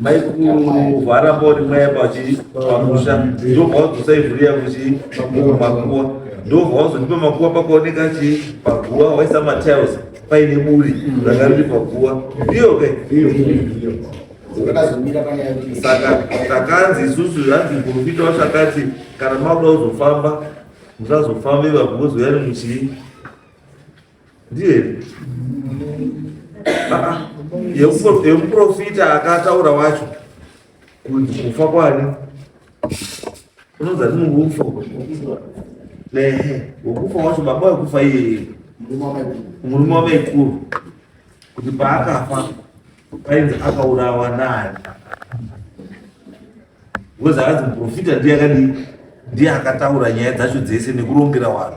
maikuvhara bori mwaya pachipamusha ndobva wadzosa ivhuriya kuti makuwa ndobva wazondipa makuwa pakaoneka chi paguwa waisa matiles paine buri ranga riri paguwa ndiyo ke saka takanzi isusu hanzi muprofita wacho akati kana makuda kuzofamba musazofambe vaguwa zoyani muchii ndiye here ah, ah. yemuprofita akataura wacho kunzi kufa kwani unonzi ati mukufa wekufa wacho baba wekufa iyeye murume wamaikuru kuti paakafa painzi akaurawa naye because akanzi muprofita ndiye akadii ndiye akataura nyaya dzacho dzese nekurongera vanhu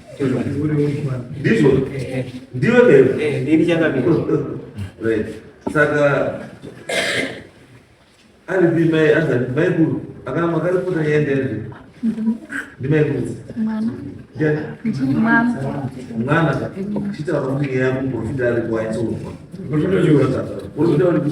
ndizvo ndiwe ndini changamira saka aripi mai azati maikuru akana makaripota yaendere ndimaikuru mwana chitaura kuti yakumborofita ari kwaitsonwa porofita uri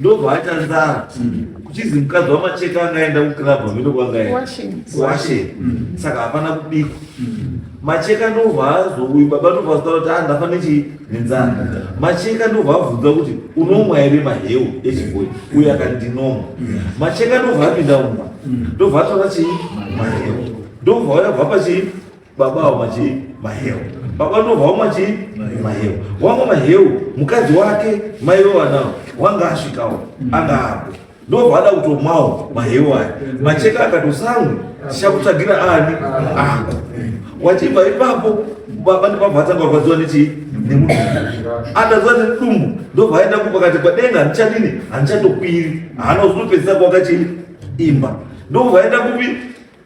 ndobva aita nzara kuchizi mukadzi wamacheka angaenda kuclub amene kwangawashe saka hapana kubikwa macheka ndobva azouyi baba ndobva azotaura kuti andafane chii nenzara macheka ndobva abvunza kuti unomwa here mahewu echiboi uye akati ndinomwa macheka ndobva apinda mumba ndobva atora chii mahewu ndobva wayabva pachii baba avo machii maheu baba ndobva vamwe machii maheu wamwe maheu mukadzi wake mai vevanawo wanga asvikawo anga apo ndobva ada kutomwawo maheu aya macheka akatosamwe tichakutsvagira ani ako wachibva ipapo baba ndibabva atanga kurwadziwa nechii nemudumbu ataziva nemudumbu ndobva aenda kupakati padenga handichadini handichatokwiri haana uzotopedzisa kwakachii imba ndobva aenda kupi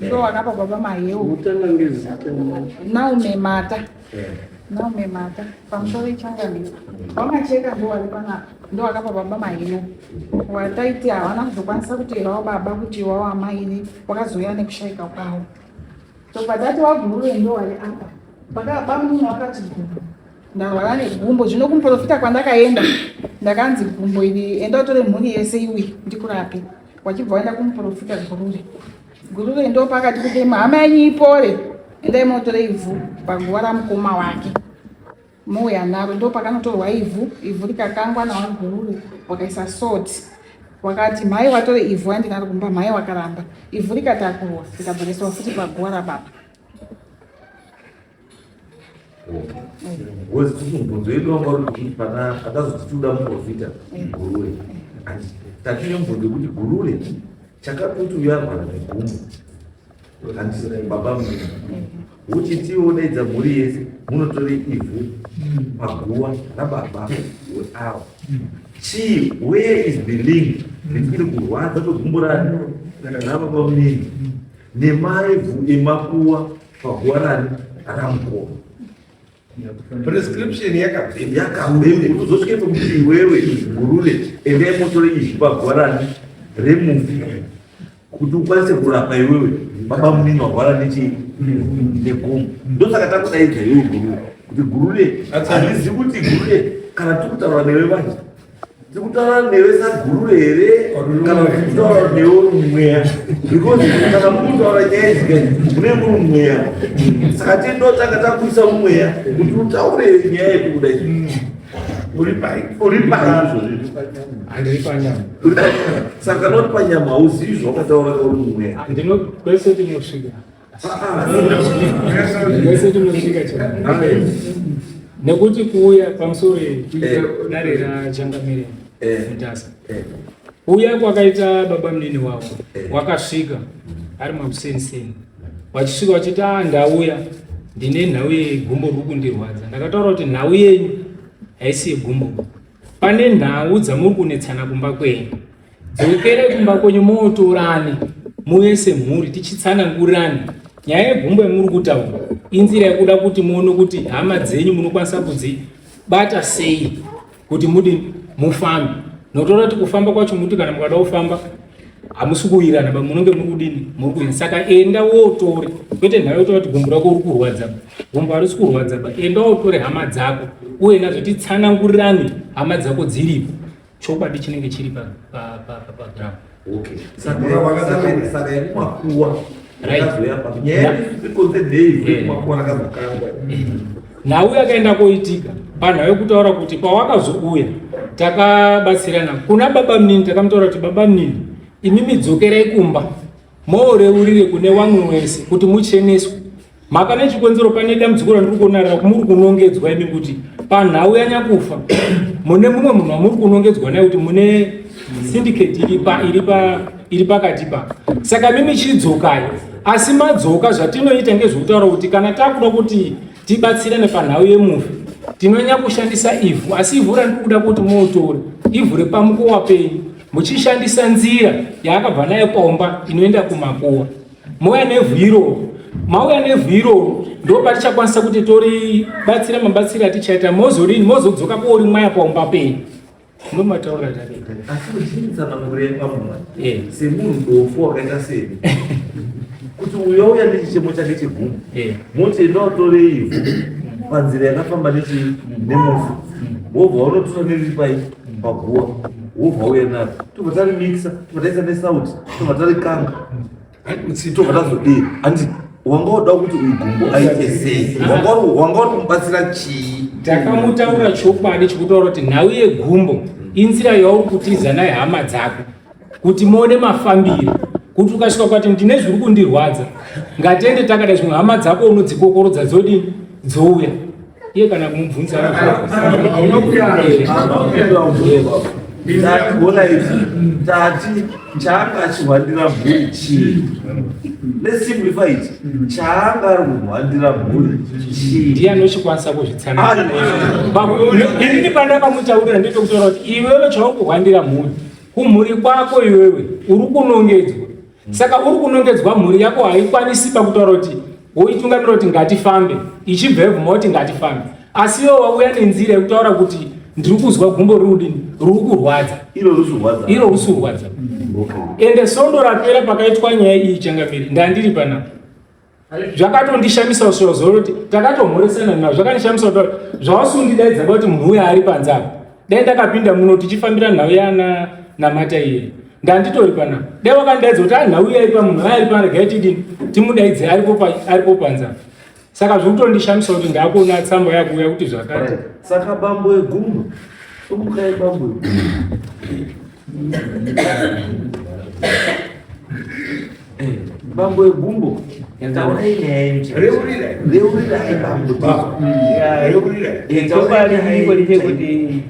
Ndo wakapa baba mahewu. Mutanga ngezita. Now memata. Yeah. Now memata. Pamusoro ichanga ndiyo. Mama cheka ndo walipana. Ndo wakapa baba mahewu. Wataiti hawana kuzokwanisa kuteerawo baba kuti iwawo amaini wakazouya nekushaika kwawo. So padati wagurure ndo wali apa. Paka bamunhu wakati gumbo. Ndarwara negumbo zvino kumuprofita kwandakaenda ndakanzi gumbo iri enda utore mhuri yese iwi ndikurape. wachibva waenda kumuprofita gurure gurure ndo pakati kuti hama yenyu ipore endai motore ivhu paguva ramukoma wake mouya naro ndo pakanotorwa ivhu ivhu rikakangwa nawo gurure wakaisa salt wakati mhai watore ivhu andinaro kumba mhai wakaramba ivhu rikatakurwa rikabva raiswa futi paguva rababa Ngozi kuti mubvunzo yedu wanga uri kuti pana akazoti tinoda muprofita gurure and tatine mubvunzo yekuti gurure chakatoti uyarwara negumbo and baba mnini uchitiwo daidza mhuri yese munotore ivhu paguva rababa weawa chii where is the link nekuti kurwadza kwegumbo rani rababa mnini nemaivhu emakuwa paguwanani ramukoma prescription yakabvemi yakabvemi kuzosvike pekuti iwewe gurune endai motore izvi paguwanani remufi kuti ukwanise kurapa iwewe baba munini warwara nechi negomo ndosaka takudaidza iwewe gurune kuti gurune hatizivi kuti gurune kana tiri kutaura newe vanje tikutaura newe saguru here kana kutaura newe mweya because kana mukutaura nyaya idzika mune muri mweya saka tindotanga takuisa mweya kuti utaure nyaya yekubuda saka noti panyama hauzivi zvawakataura kauri mweya ndinokwese tinosvika Mese tinosvika chete. Nekuti kuuya pamusoro dare raChangamire Mutasa. Kuuya kwakaita baba munini wavo wakasvika ari makuseni seni. Vachisvika vachiti ah ndauya ndine nhau yegumbo riri kundirwadza. Ndakataura kuti nhau yenyu haisi yegumbo. Pane nhau dzamuri kunetsana kumba kwenyu. Dzokere kumba kwenyu mootorane muve semhuri tichitsanangurirana nyaya yegumbo yamuri kutaura inzira yekuda kuti muone kuti hama dzenyu munokwanisa kudzibata sei kuti mudi mufambe notoona kuti kufamba kwacho muti kana mukada kufamba hamusi kuwirana ba munenge muri kudini muri kuina saka enda wootore kwete nhayo yotoa kuti gumbo rako uri kurwadza ba gumbo harisi kurwadza ba enda wootore hama dzako uye nazvo titsanangurirane hama dzako dziripo chokwadi chinenge chiri pagram nhau yakaenda koitika panhau yekutaura kuti pawakazouya takabatsirana kuna baba mnini takamutaura kuti baba mnini imi midzokerai kumba mooreurire kune wamwe wese kuti mucheneswe mhaka nechikonzero pane dambudziko randiri kuona muri kunongedzwa imi kuti panhau yanyakufa mune mumwe munhu wamuri kunongedzwa naye kuti mune syndicate iri pakati pa saka mimi chidzokai asi madzoka zvatinoita ngezvekutaura kuti kana takuda kuti tibatsirane panhau yemufi tinonyanya kushandisa ivhu asi ivhu randiri kuda kuti motore ivhu repamukowa penyu muchishandisa nzira yaakabva nayo komba inoenda kumakuwa mouya nevhu iroro mauya nevhu iroro ndo patichakwanisa kuti tori batsira mabatsiri atichaita mozorini mozodzoka kuori mwaya paumba penyu ndomataura eh. semunhu dofu wakaita seni kuti uyo uya nechichemo chake cheguma eh. moti enda utore ivhu panzira yakafamba nechi nemufu wobva wanotora neripai Paguwa wobva uya nayo tobva tarimixa tobva taisa nesauti tobva tarikanga tobva tazodii handi wanga woda kuti uyu gumbo aite sei wanga wari kumubatsira chii takamutaura chokwadi chokutaura kuti nhau yegumbo inzira yauri kutiza naye hama dzako kuti muone mafambiro kuti ukasvika kwati ndine zviri kundirwadza ngatiende takada zvimwe hama dzako unodzikokorodza dzodii dzouya iye kana kumubvunza ndakuona ichi tati chaanga achihwandira mhuri chii let's simplify it chaanga ari kuhwandira mhuri chii ndiye anochikwanisa kuzvitsananini panda pamutaurira ndito kutaura kuti iwewe chauri kuhwandira mhuri kumhuri kwako iwewe uri kunongedzwa saka uri kunongedzwa mhuri yako haikwanisi pakutaura kuti woitungamira kuti ngatifambe ichibva yabvuma kuti ngatifambe asi iwo wauya nenzira yekutaura kuti ndiri kuzwa gumbo riudini ruri kurwadza iro rusi kurwadza ende sondo rapera pakaitwa nyaya iyi changamiri ndandiri panapa zvakatondishamisa kusvika zuva roti takatomhoresana nazvo zvakandishamisa kuti zvausundidaidza kuti munhu uya ari panze apa dai ndakapinda muno tichifambira nhau yana namata iye ndanditori pana dai wakandidaidza kuti anhau ah, iya ipa munhu aari pana regai tidini timudaidze aripo panze apa saka zviri kutondishamisa kuti ndakuona tsamba yakuuya kuti zvakati saka bambo egumbo umukai bambo egumbo Bambo ebumbo reuriraibamboreuriraibamboreuriraikuti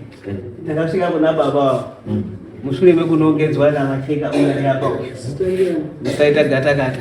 takasvika kuna baba mushure mekunongedzwa namacheka uya neapa musaita gata gata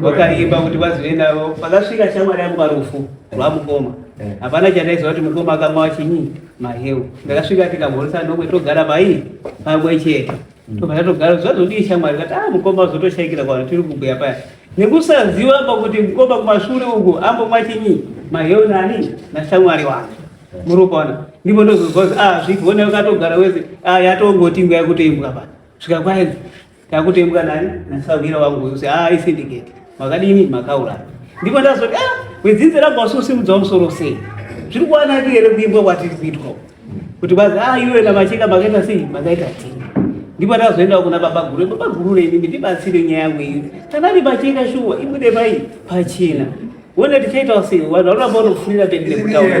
vakaimba kuti vazive navo pakasvika shamwari yangu parufu rwamukoma eh. hapana chandaiziva kuti mukoma akamwa chinyi mahewu ndakasvika tikamhoresa nomwe togara mai pamwe chete hmm. tobva tatogara zvazodii shamwari kati a ah, mukoma azotoshayikira kwano tiri kubhuya paya nekusaziva pa kuti mukoma kumashure uku ambomwa chinyi mahewu nani nashamwari wake eh. muropana ndipo ndozozwa kuti a ah, zvigonai ukatogara wese a ah, yatongoti nguya kutoimbwa pa svika kwaenzi Takutembwa nani nasahwira wangu uyu ah i syndicate makadini makauraya ndipo ndazoti ah wedzinze rangu wasusimudza musoro sei zviri kuwanaki here kuimbwa kwatiri kuitwa kuti bazi ah iwe na macheka makaita sei makaita tii ndipo ndazoenda kuna baba guru baba guru nemi ndibatsire nyaya yangu iyi kana ndi pachena shuwa ibude pai pachena wona tichaitawo sei vanhu vanoramba vanofurira pembere kutaura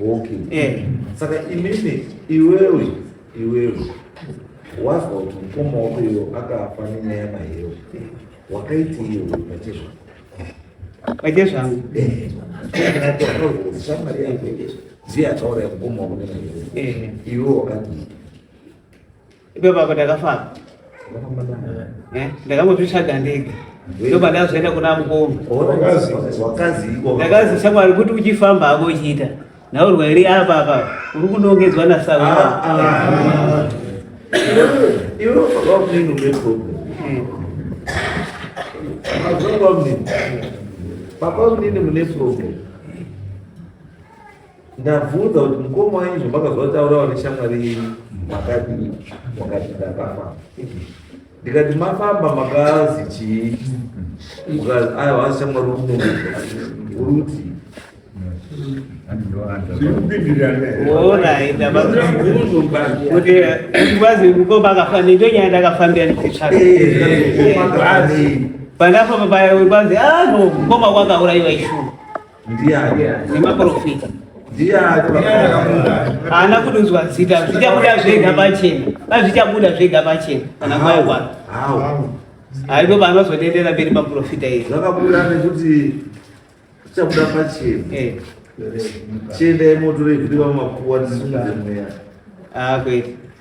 okay eh saka imimi iwewe iwewe wazwa kuti mukoma wako iyo akafa nenyaya mahewu wakaiti iyo pache zvako pache zvangu eh. shamwari yako ziya taura yamukoma wako nenyaya eh. iwe wakadii Ipapo ndakafamba eh, ndakangozvitsvaga ndega ndoba ndazoenda kuna mukoma ndakazi shamwari kuti uchifamba hako uchiita naurwa here apa apa uri kunongedzwa nasawa ah, ah, ah. Papa mnini mune problem ndabvunza kuti mukoma wanyu zvamakazotaurawo neshamwari yenyu makati makati ndakafa ndikati mafamba makazi chii mukazi aya wazi shamwari unouri kuti kwazi mukoma akafanira ndonyaya ndakafambira ndikitsvaa pandapo paya kwazi ano mukoma kwakaurayiwa ishuu Ndiani? Nemaprofita. Ndiani? Haana kudunzwa zita, zvichabuda zvega pachena. Pazvichabuda zvega pachena kana kwaya kwaro. Hawo. Haipo panozodendera mberi maprofita iri. Zvakabuda nekuti zvichabuda pachena. Eh. Chiendai motore zviri vamakuwa tisimudze mweya. Ah, kwete.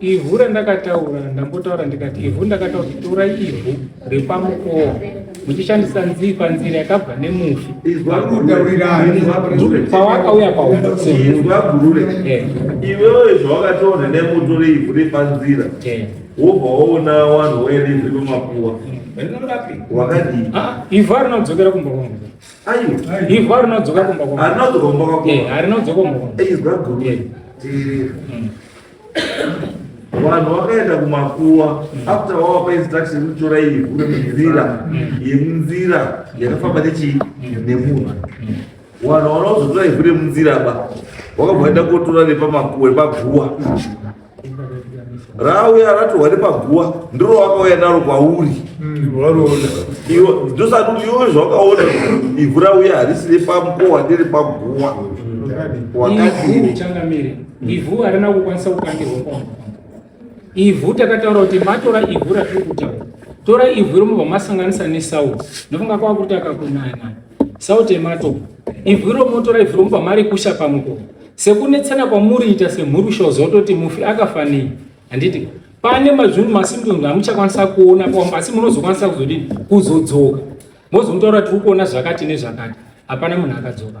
Ivhu randakataura ndambotaura ndikati ivhu ndakataura kuti torai ivhu repamukowa muchishandisa nzii panzira yakabva nemufi pawakauya paumbasemuri eh. iwewe zvawakataura nemutore ivhu repanzira eh. wobva waona wanhu waerevhi vemakuwa wakadii ah, ivhu arinodzokera kumba kwangu ivhu arinodzokera kumba kwangu arinodzokera kumba kwangu eh, arinodzokera kumba kwangu vanhu vakaenda kumakuwa after wavapa instruction yekutora ivhu remunzira yemunzira yakafamba nechii nemunhu vanhu vanozotora ivhu remunzira ba wakabva waenda kotora repamakuwa repaguwa rauya ratohwa repaguwa ndiro wakauya naro kwauri ndosati kuti iwe zvawakaona ivhu rauya harisi repamukowa nderepaguwa wakadii Ivhu harina kukwanisa kukandirwa kwamukoma. Ivhu takataura kuti matora ivhu ratiri kutaura. Tora ivhu iro mobva masanganisa nesauti. Ndofunga kwava kuti akakunaya nayo. Sauti yematopa. Ivhu iro motora ivhu iro mobva marikusha pamukoma. Sekunetsana kwamuriita semhuri shozototi mufi akafanei. Handiti pane mazvinhu masimtonzi amuchakwanisa kuona kwamba asi munozokwanisa kuzodini kuzodzoka mozomutora tiri kuona zvakati nezvakati hapana munhu akadzoka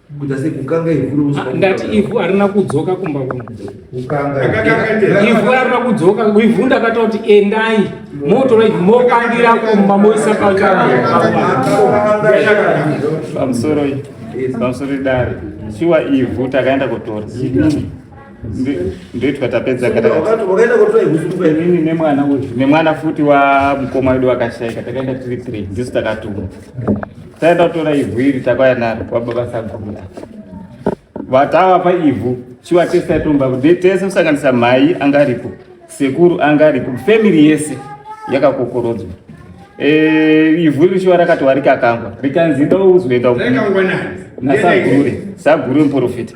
kuita sekukanga ivhu romusuka ndati ivhu harina kudzoka kumba kwangu kukanga ivhu harina kudzoka ivhu ndakataura kuti endai motora ivhu mokandira kumba moisa pamusoro pamusoro idare shuwa ivhu takaenda kutora ndoitwa tapedza inini nemwana nemwana futi wamukoma wedu wakashaika takaenda tiri three ndisu takatuma Taenda tora ivhu iri takauya naro kwababa saguru vatava pa ivhu shuwa tese taitomba tese kusanganisa mhai anga aripo sekuru anga aripo family yese yakakokorodzwa Eh, ivhu iri shuwa rakati warikakangwa rikanzi ndo uzoenda nasagure sagure muprofita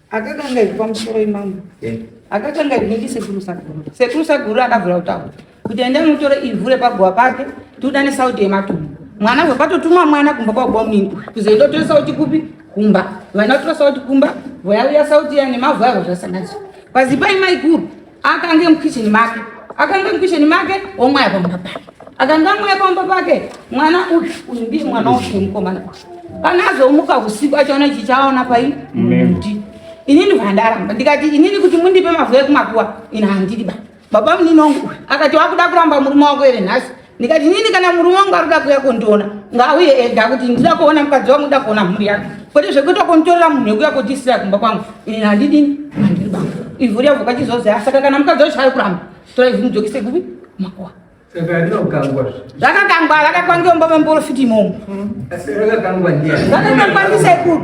Akakanga ipa musoro imambo. Eh. Akakanga ibindi sekuru saguru. Sekuru saguru akavula utawo. Kuti enda mutore ivure pagwa pake, tudane sauti yematumbu. Mwana we patotumwa mwana kumba kwa gwa mimbu. Kuzoenda tore sauti kupi? Kumba. Vana tore sauti kumba, voyauya sauti ya nemavhu avo zvasanganiswa. Pazipa imaikuru. akange mukitchen make akange mukitchen make womwaya pamba pake akange amwaya pamba pake mwana uyu uyu ndiye mwana wake mukomana kana azomuka usiku achaona ichi chaona pai muti inini vandaramba ndikati inini kuti mundipe mavhu ekumakuwa ini handidi ba baba munini wangu akati wakuda kuramba murume wako ere nhasi ndikati inini kana murume wangu ari kuda kuuya kondiona ngaauye ega kuti ndida kuona mukadzi wangu nda kuona mhuri yake kwete zvekuita konditorera munhu wekuya kotiisira kumba kwangu ini handidini handiri banga ivhu riya vhuka chizozi asaka kana mukadzi wacho ari kuramba tora ivhu mudzokise kupi makuwa zvakakangwa rakakwa ngeumba memporofiti imomo zvakakangwa ndisekuru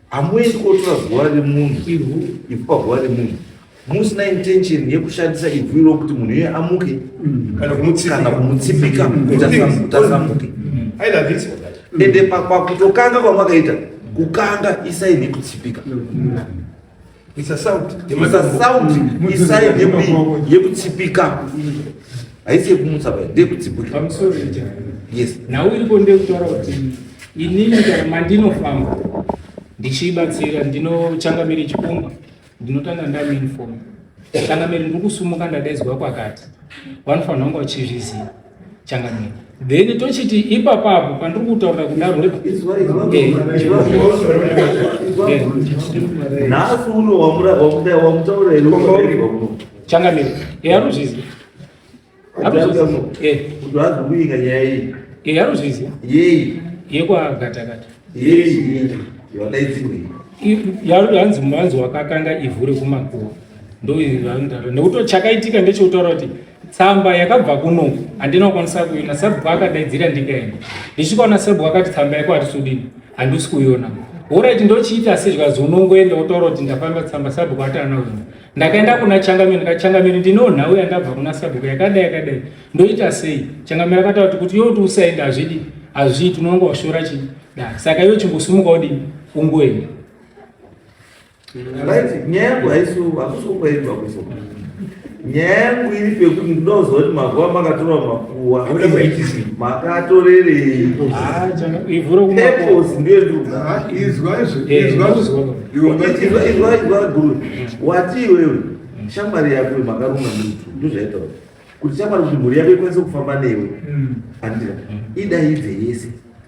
hamuendi kotora zuva remunhu ivhu ivhu pazuva remunhu musina intention yekushandisa ivhu iro kuti munhu iye amuke mm. kana kumutsipika mm. kuti asamuke mm. ende pakutokanga kwamakaita kukanga isaini yekutsipika It's a sound. It's a sound. Isa yepi yekutsipika. Haisi yekumutsa baya, ndeyekutsipika. I'm sorry. Yes. Nhau iripo ndeyekutaura kuti inini kana mandinofamba ndichiibatsira ndinochangamire chikumba ndinotanga ndamuinforma changamire ndiri kusumuka ndadaizwa kwakati vanofanira kunge vachizviziva changamire then tochiti ipapapo pandiri kutaurira kudaro nhasi uno wamutaura changamire e anozvizi kuiika nyaya iyi e anozvizi yei yekwagatakata yei yadaidzimei yanzi mwanzi wakakanga ivhu rekumakuva ndoinotaura nekuti chakaitika ndechekutaura kuti tsamba yakabva kuno handina kukwanisa kuiona sabhuku akadaidzira ndikaenda ndichikaona sabhuku akati tsamba yako hatisudini handisi kuiona horaiti ndochiita se zvikazi unongoenda wotaura kuti ndafamba tsamba sabhuku ati ana uno ndakaenda kuna changamire ndikati changamire ndinoo nhau yandabva kuna sabhuku yakadai yakadai ndoita sei changamire akataura kuti kuti yoti usaenda hazvidi hazviiti unonga washora chii da saka iyo chingosimuka udini ungoenda right nyaya yangu haisi hakusi kungoendwa kuso nyaya yangu iri pekuti ndinoziva kuti makuva makatora makuwa makatorerei purpose ndiyo ndikuizwa guru wati iwewe shamwari yako makaruma mutu ndozvaitaura kuti shamwari kuti mhuri yako ikwanise kufamba newe andira idaidze yese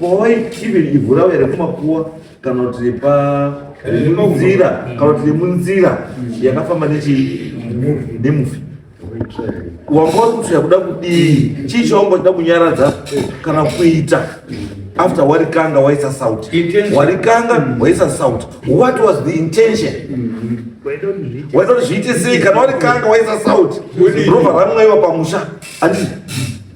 Boy, even ivhu ravo here kumakuwa kana kuti repa munzira kana kuti remunzira yakafamba nemufi wanga uri kuti yakuda kudii chii chaunga uchida kunyaradza kana kuita after warikanga waisa saut warikanga waisa saut what was the intention waida kuti zviite sei kana warikanga waisa saut rova ramwaiwa pamusha andii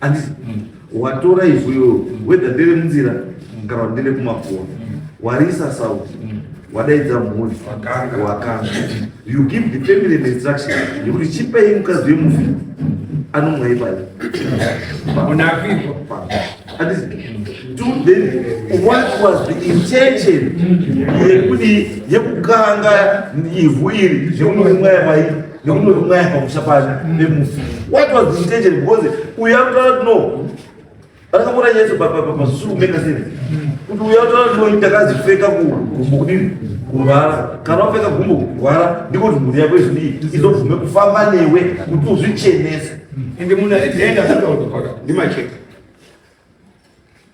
andisi watora ivhu iroro wedha ndere munzira kana kuti ndere kumakuwa warisa sauti wadaidza mhuri wakanga you give the family an instruction yekuti chipei mukadzi wemufi anomwa ipai andisi then what was the intention yekudi yekukanga ivhu iri zvemunomwa yamai neumwe kumwe pamusha pake nemufi what was the intention because uya kutaura kuti no vakamuona nyeso pazvisiri kumeka sei kuti uya kutaura kuti no ndakazipfeka kugumbo kudini kurwara kana wapfeka gumbo kurwara ndiko kuti mhuri yako izvii izobvume kufamba newe kuti uzvichenese ende munhu aenda ndimacheka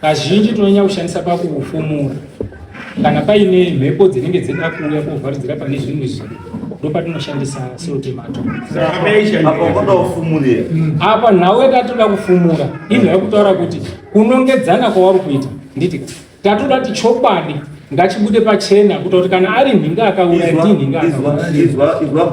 Kazhinji tinonyanya kushandisa pakufumura kana paine mhepo dzinenge dzinoda kuuya kovharidzira pane zvimwe zvinhu ndopatinoshandisa seutemato apa nhau yatatoda kufumura inhu yakutaura kuti kunongedzana kwawari kuita nditi tatoda kuti chokwadi ngachibude pachena kuta kuti kana ari nhinga akaura ndinhinga akaura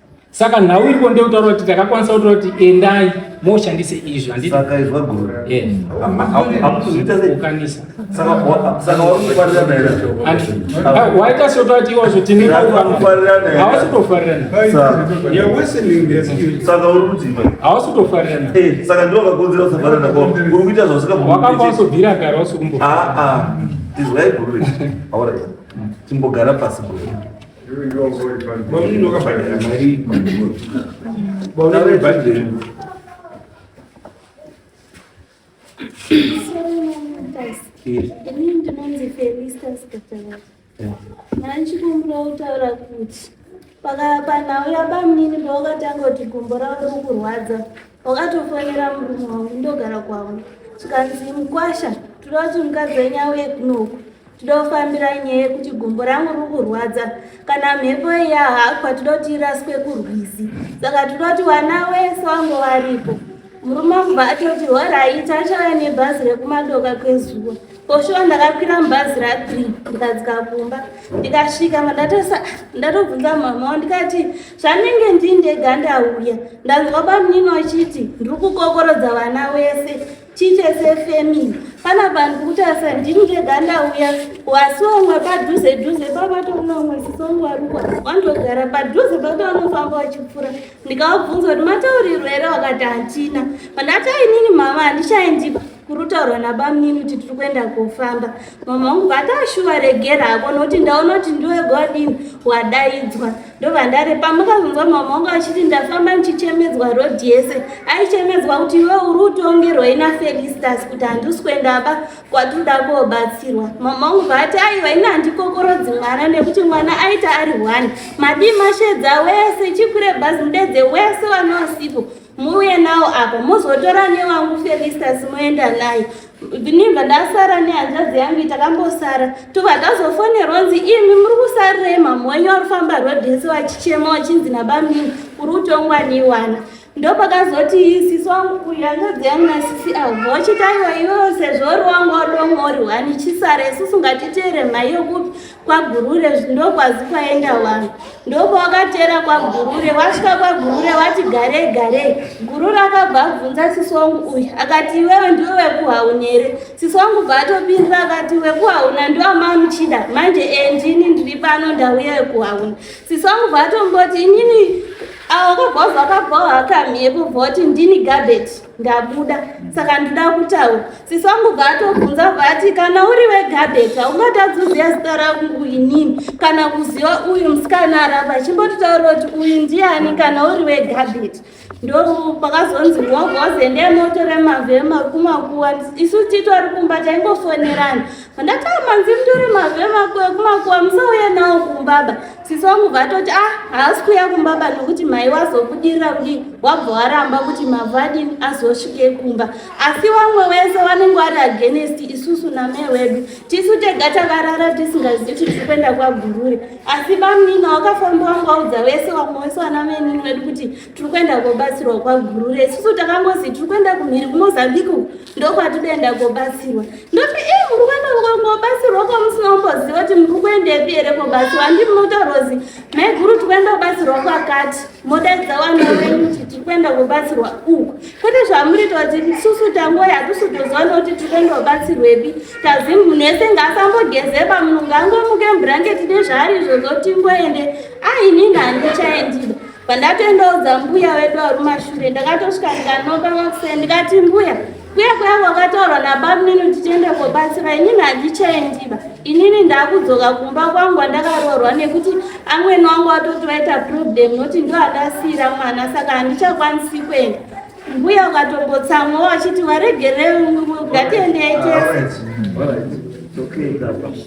Saka nhau iriko ndeyekutaura kuti takakwanisa kutaura kuti endai moshandise izvi handiwaita sotaura kuti iwazvo tineawasi kutofarirana wakakwansobvira kare wasi kumbo timbogara pasi guru Mamunini wakabhadhara mari baona vebhadhiri ini ndinonzi felista sikatavaa mandichikumbira kutaura kuti panhau yabamunini pawakatanga kuti gumbo ravo riri kurwadza wakatofonera murume wangu ndogara kwavo zvikanzi mukwasha toda kuti mukadzi wenyu auye kunoku Todofambira nyaya yekuti gumbo rangu riri kurwadza kana mhepo yahakwa toda kuti iraswe kurwizi saka toda kuti vana wese wange varipo murume wangu baatoti horaita achauya nebhazi rekumadoka kwezuva poshuwa ndakakwira mubhazi rathree ndikadzika kumba ndikasvika mandatosa ndatobvunza mama wa ndikati zvanenge ndindega ndauya ndanzwa bamunini wachiti ndiri kukokorodza vana wese Chiche sefemi pana vanhu kuti asa ndini ndega ndauya wasi wamwe padhuze dhuze pabato unomwe sisongu arukwa wandogara padhuze pato anofamba wachipfura ndikavabvunza kuti mataurirwo here wakati hatina pandati ainini mama handichaendipa kurutaurwa nabamnini kuti tiri kuenda kofamba mama vangu vataashuva regera hako nokuti ndaona kuti ndiwega wadini wadaidzwa ndovandare pamukakunzwa mama vangu achiti ndafamba ndichichemedzwa rodhi yese aichemedzwa kuti iwe uri utongerwa ina felistas kuti handisi kuendaba kwatinoda koobatsirwa mama vangu vati aiva ina handikokorodzi mwana nekuti mwana aita ari one madii mashedza wese chikure bhazi mudedze wese wanoasipo muuye nawo apo muzotora newangu felistas moenda naye ndinibva ndasara nehanzvadzi yangu itakambosara tobva tazofonerwa nzi imi muri kusarirei mhamha wenyu wari kufamba rodhesi wachichema wachinzi nabamini uri kutongwa neiwana ndopakazoti sisi wangu uyu hanzvadzi yangu nasisi avo vochitaiwa iwewo sezvo uri wangu wadomwa uri hwani chisara isusu ngatiteere mhai yokupi kwagurure ndokwazi kwaenda vanhu ndokwawakateera kwagurure wasvika kwagurure wati garei garei gurure akabva abvunza sisi wangu uyu akati iwewe ndiwe wekuhauna here sisi wangu bva atopindira akati wekuhauna ndoamamuchida manje endini ndiri pano ndauya wekuhauna sisi wangu bva atomboti inini awakabva vakabvawo hakamiepo bva wati ndini gabeti ndabuda saka ndinoda kutaura sisi wangu bva atobvunza bva ati kana uri wegabheta ungatadzi uziva zita rangu inini kana kuziva uyu musikana aramba chimbototaura kuti uyu ndiani kana uri wegabheta ndopakazonzi ngogozeende motore mavhema kumakuwa isu titori kumba taingofonerana ndatamanzi mtore mavhema kumakuwa musauye nawo kumbaba sisi wangu vatoti ah haasi kuya kumba ba nokuti mhai wazobudirira kudii wabva waramba kuti mavhu adini azosvike kumba asi vamwe wese vanenge vari agenest isusu namai wedu tisu tega takarara tisingazivi kuti tiri kuenda kwagurure asi bamunini wakafamba wangu waudza wese vamwe wese vana venini wedu kuti tiri kuenda kobatsirwa kwagurure isusu takangozi tiri kuenda kumhiri kumozambique uku ndokwatinoenda kobatsirwa ndoti ii muri kuenda kobatsirwa kwamusina kumboziva kuti muri kuendepi here kobatsirwa handi munotaurozi maiguru tiri kuenda kobatsirwa kwakati modaidza wana wenyu kuti tiri kuenda kobatsirwa uku kwete zvamuri ta kuti isusu tangoya hatusi toziva nokuti tiri kuenda kobatsirwepi tazi munhu ese ngaasambogezeba munhu ngaangomuke mburangeti nezvaari izvozvo tingoende aini nhandichaendida Pandatendeudza mbuya wedu warumashure ndakatosvika ndikanoka vakuse ndikati mbuya kuya kuya kwakataurwa nabamnini kuti tiende kobatsira inini handichaendiba inini ndakudzoka kumba kwangu andakaroorwa nekuti amweni wangu watoti vaita problem noti ndo andasiira mwana saka handichakwanisi kuenda mbuya ukatombotsamwa wachiti waregerei ngatiendei tese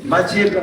macheka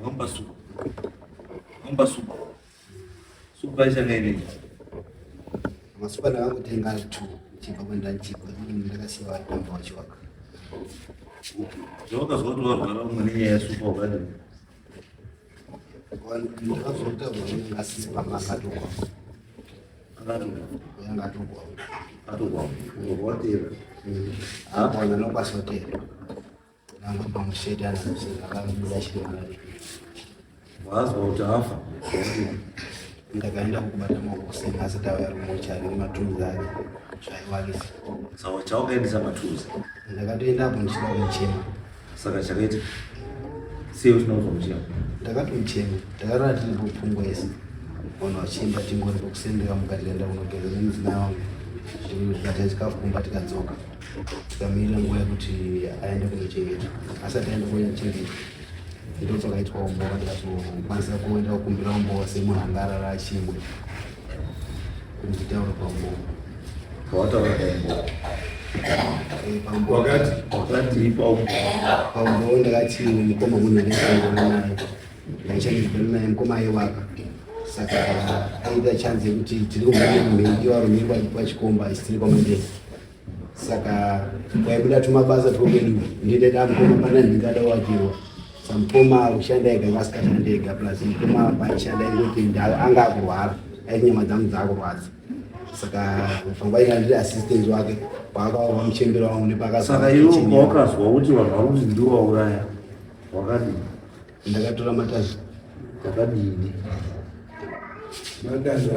Ngomba supa. Ngomba supa. Supa ichanga ineyi. Masupa ndakakutenga ari two chibva kwenda chibva ndakasiya vari kwamba wachiwaka. Zvawakazwa kuti warwara umwe nenyaya yesupa wakadini? Ndakazota vanenge asisi pamba akatokwa. Akatokwa. Yanga atokwa. Atokwa. Ngokotera. Akwana nokwasotera. Wazwa kuti afa ndakaenda kubata makuseni asi tauya rumochari nematunzi ake zvaiwakisa saka chaukaendesa matunzi ndakatoenda apo ndichida kumuchema saka chakaita sei usina kuzwa muchema ndakatomuchema ndakarora tiri kupfungwa ese vanhu vachienda tingori pokusendeka mukati kaenda kunogeza nemudzimai wangu tikabata chikafu kumba tikadzoka Tamirira nguva yekuti aende kunochengeta asati aenda kunochengeta ndopakaitwa umbova ndikatokwanisa kuenda kukumbira umbova semunhu anga arara achimwe nditaura paumbova pawataura paumbova wakati wakati paumboo ndakati mukoma munhu ndaisanana naye ndaichandidana naye mukoma aiwaka saka aida chanzi yekuti tiri kumhanya mhindi warumirwa ipa chikomba isitiri kwamandei saka kwaibuda tumabasa twokwedu ndindaita mukoma pana ndingada wakirwa samukoma ushanda ega ngasikashanda ega plus mukoma paishanda ingoti ndau anga akurwara ainyama dzangu dzaakurwadza saka pfungwa inga ndiri assistant wake kwaakaurwa muchembero wangu nepakasaka iwe ukazwa kuti vanhu vakuti ndiwauraya wakadii Ndakatora matazi wakadini? Matazi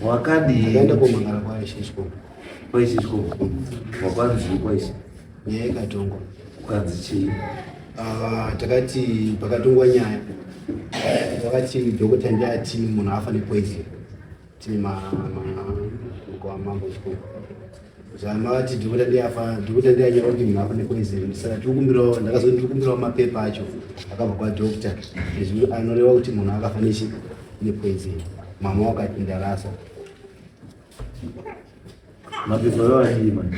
wakadini? Ndakaenda komangara kwaye Shishko. Kwaye Shishko. Wakwanzi kwaisi. Nyaya ikatongwa. Ukanzi chii? Ah, takati pakatongwa nyaya. Wakati dhokota ndiye ati munhu afa nepoison. Tima kwa mambo mkuu. Zama ati ndikuda ndiyafa ndikuda ndiyanyora kuti munhu afa nepoison saka tikukumbirawo ndakazoti tikukumbirawo mapepa acho akabva kwadoctor izvi anoreva kuti munhu akafa nechi nepoison mama wakati ndarasa mapepa ayo achii manje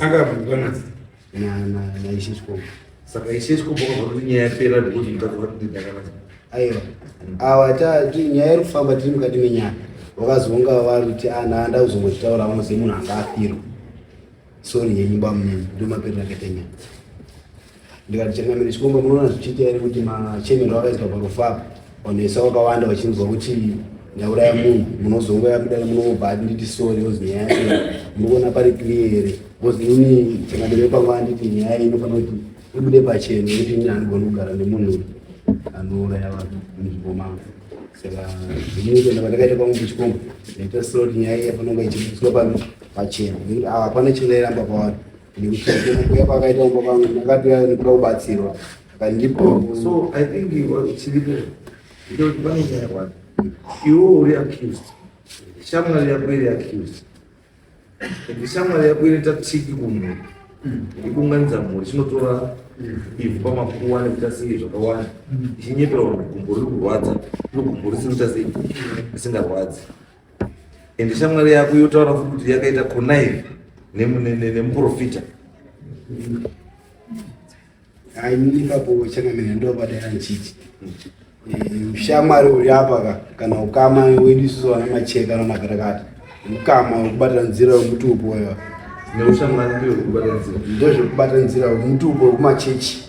akabvunzwa naishe chikomo saka ishe chikomo kwabva kuti nyaya yapera ndokuti mutadzi vari kuti ndakanaka aiwa awa nyaya iri kufamba tiri mukati menyaya vakazonga vari kuti ana anda kuzongochitaura vanoziva munhu anga afirwa sori yenyu bamunini ndomaperera akaita nyaya ndikati changamire chikomba munoona zvichiita here kuti machemero akaiswa parufu apa vanhuesa vakawanda vachinzwa kuti ndauraya munhu munozongoya kudai munobva ati nditi sori ozi nyaya yacho muri kuona pari clear here bcause ini changamire kwangu anditi nyaya iyi inofanira kuti ibude pachena nekuti ini andigoni kugara nemunhu anouraya vanhu munzvimbo mangu saka zvinikuenda pandakaita kwangu kuchikomba ndaita sori nyaya iyi yafanonga ichibudiswa pano pachena nekuti hapana chingairamba pavari shamwari yako iri accused and shamwari yako inoita tsiki kumhuri ikunganidza mhuri chinotora ivhu pamakuwa nekuita sei zvakawanda ichinyepera kuti gumbo riri kurwadza iro gumbo risikuita sei risingarwadzi ende shamwari yako yotaura futi kuti yakaita connive nemuprofita ainipapo changamira ndobadaya nchiti ushamwari eh, uri apa ka kana ukama wedu isusu vana macheka namakatakata ukama wekubatira nzira wemutupo wewa ndozvekubatira nzira wemutupo wekumachechi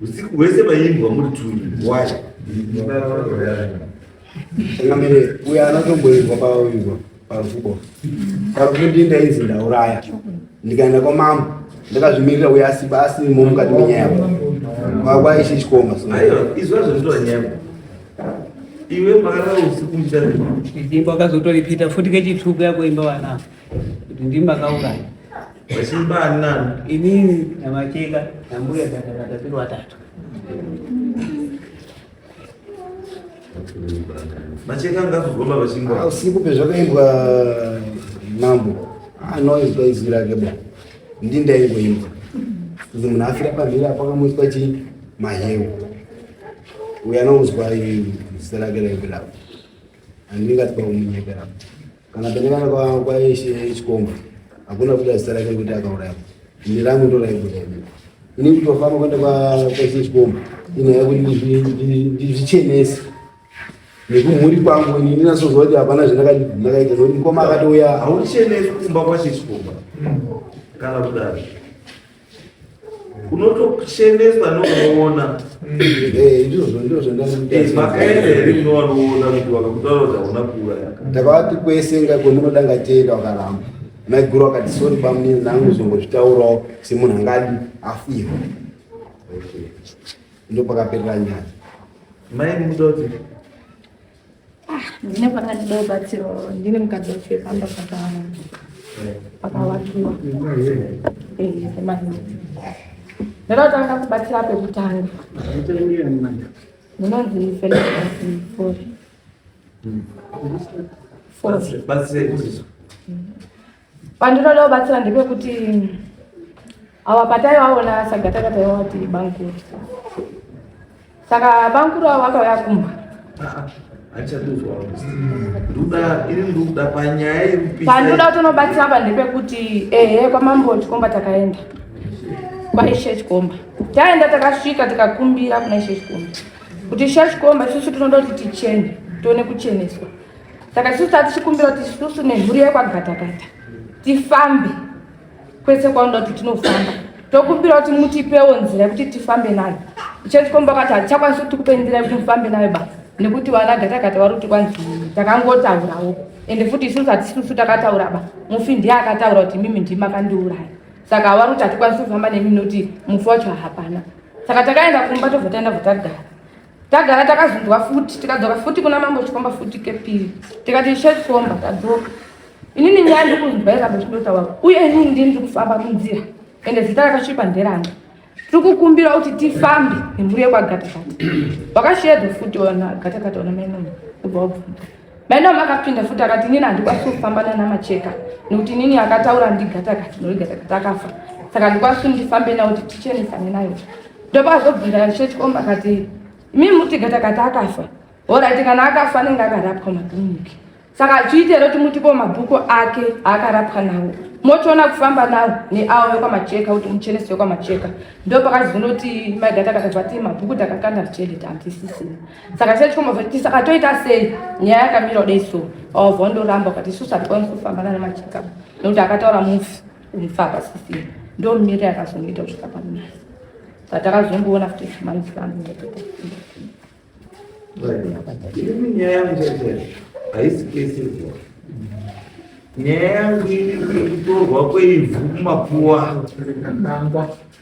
Usiku hwese maimbwa muri tuni. Why? Kamere uya anotomboimbwa pauimbwa parukubo. Parukundi ndaizi ndauraya. Ndikaenda kwa mama ndakazvimirira uya asi basi mo mukati menyaya kwakwa ichi chikomba. Aiwa izwa zvinotora nyaya. Iwe mara usiku mchana. Ndimbo akazotoripita futi kechituku yako imba wana. Kuti ndimba kauraya. Vachibani nani? Inini na Macheka na mbuya dada na tatu watatu. Macheka ngakugomba vachingwa. Ah, usiku pezvakaimbwa mambo anoizwa izwi rake bo ndindaingoimba kuti munhu afira pamhiri apo akamuiswa chii mahewu uyo anonzwa zita rake raibirapo andingatwa kumunyeperapo Kana penekana kwa kwa Eshe Chikomba hakuna kuda zita rake kuti akauraya. Ni rangu ndo raibu raibu. Ni kutofana kwenda kwa kwa Eshe Chikomba. Ina yaku ndizvichenesi. Nekumhuri kwangu ini ndinasozwa kuti hapana zvandakaita ndakaita nokuti mukoma akatouya. Hauchenesi kumba kwa Eshe Chikomba. Kana kudaro. unotocheneswa nounoona makaenda here munowanoona kuti wakakutaura kuti hauna kuuraya ndakavati kwese ngako munoda ngatienda wakaramba maiguru wakati sori bamunini nangu zongozvitaurawo semunhu angadi afirwa ndopakaperera nyaya mai mukuti Ah, ndine pakandido batsiro ndine mukadzi wacho pamba pakavakiwa ndinotanga kubatsira pekutanga ndinonzi felefori Pandinoda kubatsira ndepekuti awa pataivaona sagata kataiva vati bankuru saka bankuru avo vakauya kumba pandinoda kutonobatsira apa ndepekuti ehe kwamambo chikomba takaenda kwaishe chikomba taenda takasvika tikakumbira kuna ishe chikomba kuti ishe chikomba isusu tinoda kuti tichene tione kucheneswa saka tisu taa tichikumbira kuti isusu nemhuri yekwagatakata tifambe kwese kwaunoda kuti tinofamba tokumbira kuti mutipewo nzira yekuti tifambe nayo ichetikomba kati hatichakwanisi kuti tikupe nzira yekuti mufambe nayo basa nekuti vana gatakata vari kuti kwanzi takangotaurawo ende futi isusu hatisisu takataura ba mufi ndiye akataura kuti mimi ndimi akandiuraya saka vari kuti hatikwanisi kufamba nemi nekuti mufi wacho hapana saka takaenda kumba tobva taenda bva tagara tagara takazunzwa futi tikadzoka futi kuna mambo chikomba futi kepiri tikati ishe chikomba tadzoka inini nyaya ndiri kunzwa izvambo chindotaura uye inini ndini ndiri kufamba munzira ende zita rakachipa nderanga tiri kukumbira kuti tifambe nemhuri yekwagatagata wakasheedzo futi ona gatakata ona mainono ubva wabvunza Mai Naomi akapinda futi akati inini handikwanisi kufamba nana Macheka nekuti inini akataura ndigata kati nori gata kati akafa saka handikwanisi kuti ndifambe nawo kuti tichenesane nayo ndopa azobvunza chechikomba akati imimi muti gata kati akafa horaiti kana akafa anenge akarapwa makiriniki saka achiitero kuti mutipo mabhuku ake aakarapwa nawo mochiona kufamba nawo neawo vekwamacheka kuti muchenesi wekwamacheka ndo pakazonoti maigata kati vati mabhuku takakanda tichende tantisisina saka chete chikombovaiti saka toita sei nyaya yakamira kudai so wavha ndoramba ukati isusu hatikwanisi kufamba nana macheka nekuti akataura mufi mufi apasisii ndo miri yakazongoita kusvika panonasi saka takazongoona futi chimanisi vanhu nyaya yangu haisi kese nyaya yangu iri kutorwa kweivhu kumapuwa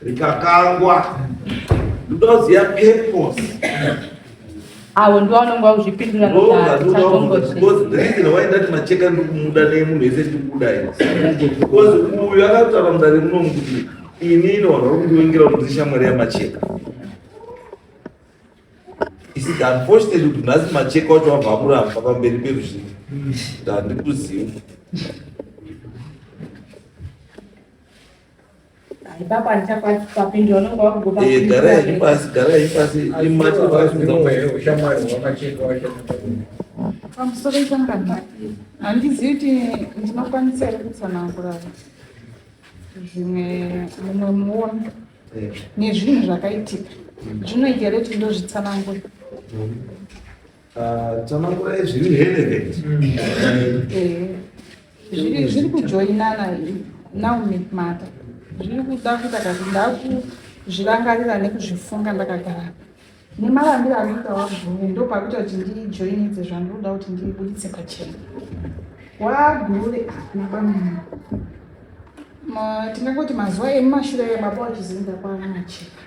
rikakangwa ndoziya purpose avo ndo vanonge vakuzvipindura waidati macheka ndikumuda nemunhu ese ndikuda because uyu akataura mudare munomu kuti ini inoona uri kundiwengera kuti ndishamwari yamacheka isika unfortunately kuti nhasi macheka wacho wabva amuramba pamberi peruzhinji ndandikuziva pamusoro ichangana handizivi kuti ndinokwanisa here kutsanangura zvimwe mumwe muono nezvinhu zvakaitika zvinoita here kuti ndozvitsanangura Ah, Tsanangura zviri relevant. Eh, zviri zviri kujoinana now make matter zviri kuda kuita kati ndakuzvirangarira nekuzvifunga ndakagara nemarambiro ari kuita waguru ndo pakuita kuti ndijoinidze zvandinoda kuti ndibuditse pachena wagure naba munhu Ma- tingangoti mazuva emumashure ebaba wachizinda kwaana macheka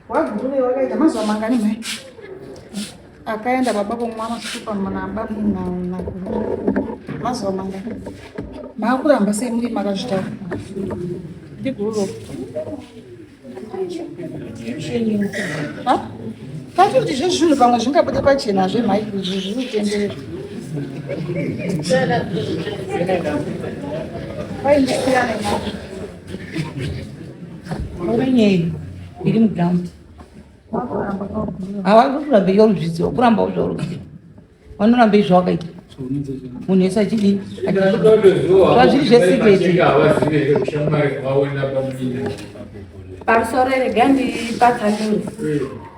Wagurure wakaita mazuva mangani mhai? Akaenda baba kumwa masupa muna baba muna mazuva mangani? Maakuramba sei muri makazvitaura? Ndigururo. Kati kuti zvezvinhu pamwe zvingabude pachena hazve mhai izvi zviri kutenderera. Vai, Orenyei iri muground. Hawazi kuramba iyo ruzvidziwa kuramba uzva ruzvidziwa. Vanoramba izvo wakaita. Munhu wese achidii? Zvazviri zvesiketi. Pamusoro regandipatanuri.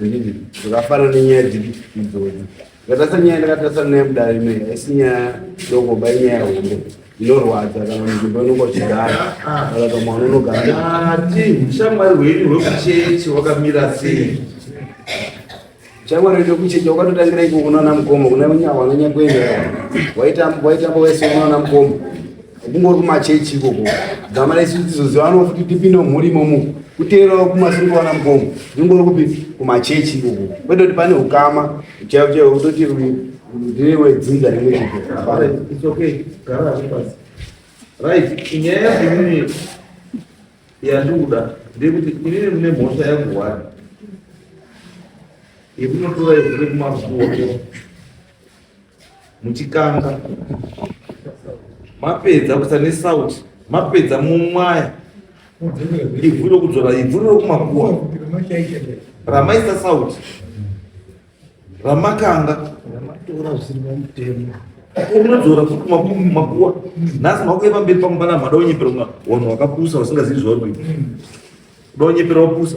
handiti zvakafana nenyaya dziri idzodzo ndakatasa nyaya ndakatasa naye mudare inoyi haisi nyaya doko ba inyaya hombe inorwadza kana munzvimbo inonga uchigara kana ka mwana unogara ati ushamwari hwenyu hwekuchechi wakamira sei shamwari wedu kuchechi wakatotangira iko kunoona mukombo kuna unyawana nyakwenda waitamba waitamba wese unoona mukombo kungori kumachechi ikoko gama resu tizozivanawo futi tipinde mumhuri imomo kuteerawo kumasiri kuwana mukomo ndingori kupi kumachechi ikoko kwete kuti pane ukama chaivo chaivo kutoti ndiwe dzinza rimwe chiko right inyaya yakuini yandikuda ndekuti inini mune mhosva yangu wani yekunotora yekuve kumakuoko muchikanga mapedza kusa nesauti mapedza mumwaya ivhu rokudzora ivhu rokumakuwa ramaisa sauti ramakanga unodzora futi kumakuwa nhasi makuya pamberi pamubana mada unyepera mwa wanhu wakapusa wasingazivi zvauri kuita uda unyepera wapusa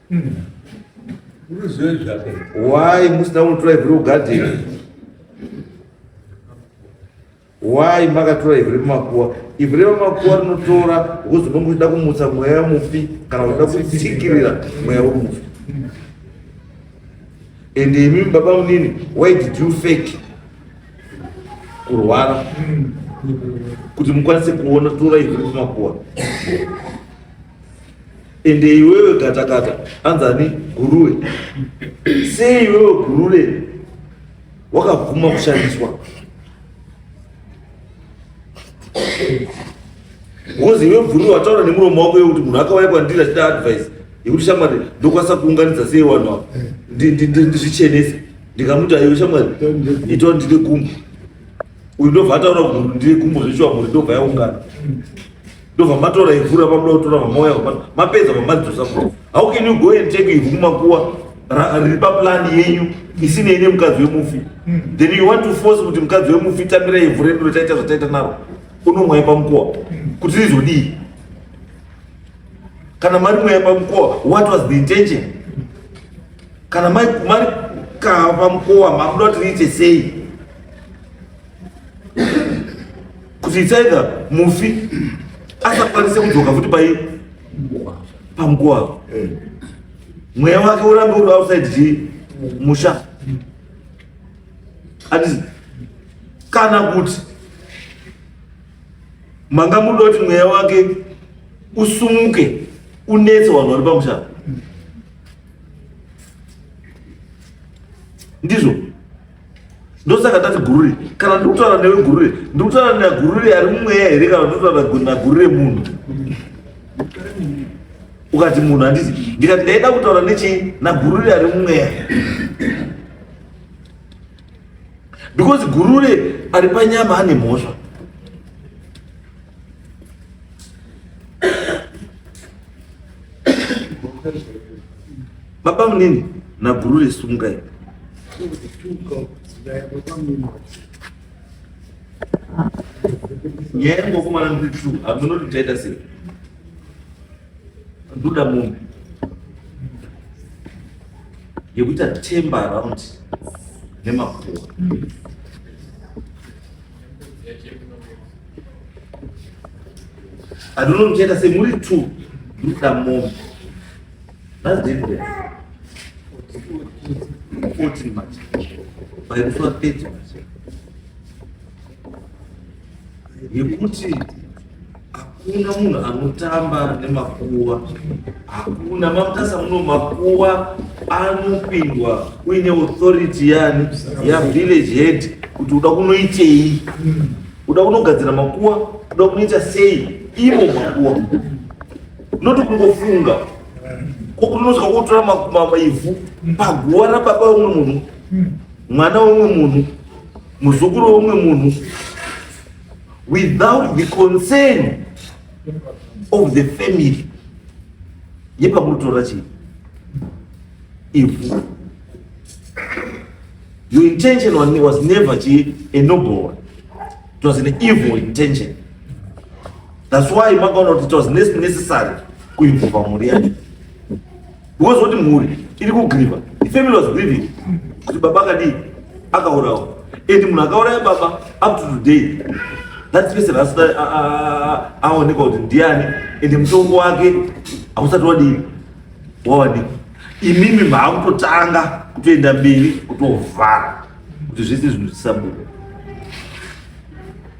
Unoziva zvako. Why musina kutora ivhu rekugadheni? Why makatora ivhu remakuwa? Ivhu remakuwa rinotora wozononga uchida kumutsa mweya mufi kana uchida kutsikirira mweya wemufi. And imi baba munini, why did you fake? Kurwara. Kuti mukwanise kuona tora ivhu remakuwa. Ende iwewe gatakata anzani guruwe sei iwewe guruwe wakabvuma kushandiswa because iwe bvuri wataura nemuromo wako yekuti munhu akauya kwandiri achida advice yekuti shamwari ndokwanisa kuunganidza sei vanhu ava ndizvichenese ndikamuti aiwe shamwari itawa ndine gumbo uyu ndobva ataura kuti ndine gumbo zveshuwa mhuri ndobva yaungana ndobva matora ivhu ramabuda kutora vamauya mapedza vamadzosa kuti how can you go and take ivhu kumakuwa riri paplani yenyu isinei nemukadzi wemufi hmm. then you want to force kuti mukadzi wemufi tamira ivhu redu rataita zvataita naro unomwai pamukuwa hmm. kuti rizodii kana mari mwaya pamukuwa what was the intention kana mari kaa pamukuwa makuda kuti riite sei kuti it's either mufi asakwanise kudzoka futi pai pamukuwa apo eh. mweya wake urambe uri outside chi musha atizi kana kuti manga muda kuti mweya wake usumuke unetse vanhu vari pamusha ndizvo ndosaka ndati gurure kana ndikutaura newe gurure ndikutaura nagurure ari mumweya here kana ndikutaura nagurure munhu ukati munhu handiti ndikati ndaida kutaura nechii nagurure ari mumweya because gurure ari panyama ane mhosva Baba munini na gurure sungai. Nyaya yangu kwa mwana ndi true. Amuno tutaita sei? Nduda mumbi. Yekuti atemba around nemakuwa. I don't know, Jada, say, Muri two, look at mom. That's different. Kuti manje. Pai kufa pedyo manje. Yekuti hakuna munhu anotamba nemakuwa hakuna mamutasa muno makuwa anopindwa uine authority yani yavillage head kuti uda kunoitei uda kunogadzira makuwa uda kunoita sei ivo makuwa Not kungofunga kokunozwa kutora maivhu paguva rababa wemwe munhu mwana wemwe munhu muzukuru wemwe munhu without the concern of the family yepamunotora chii ivhu your intention was never chii a noble one it was an evil intention That's why makaona kuti it was necessary kuimvova mhuri yacho because kuti mhuri iri kugriva the family was grieving kuti baba akadii akaurawa and munhu akauraya baba up to today that person asina aonekwa kuti ndiani and mutongo wake hausati wadii wawanika imimi maakutotanga kutoenda mberi kutovhara kuti zvese zvinhu zvisabuda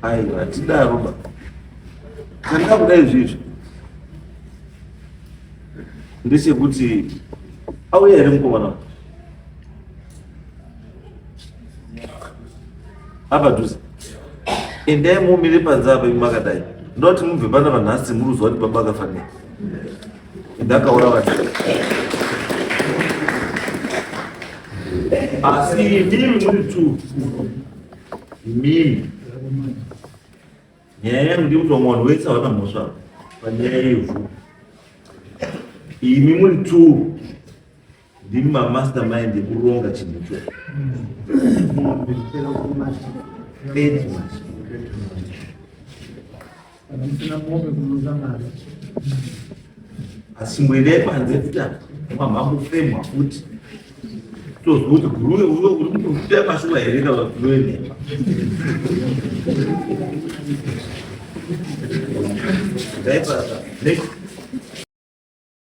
Aiwa, hatidaro ba. Handina kuda izvizvi. Ndechekuti auya here mukomana uyu? Apa dhuze. Endai mumire panze apa imi makadai. Ndoda kuti mubve pana vanhasi muri kuziva kuti baba akafa nei. Ndakaora vanhu. Asi ndimi muri two. Imimi. Nyaya yangu ndikuti vamwe vanhu vese havana mhosva panyaya yevhu. Imi muri two ndimi mamastermind ekuronga chinhu icho. Thank you. asi mwene panze kuti mamamufemwa futi toziva kuti guruwe uyo uri kutokutea mashuva here kana guruwe nhema Dai pra, pra.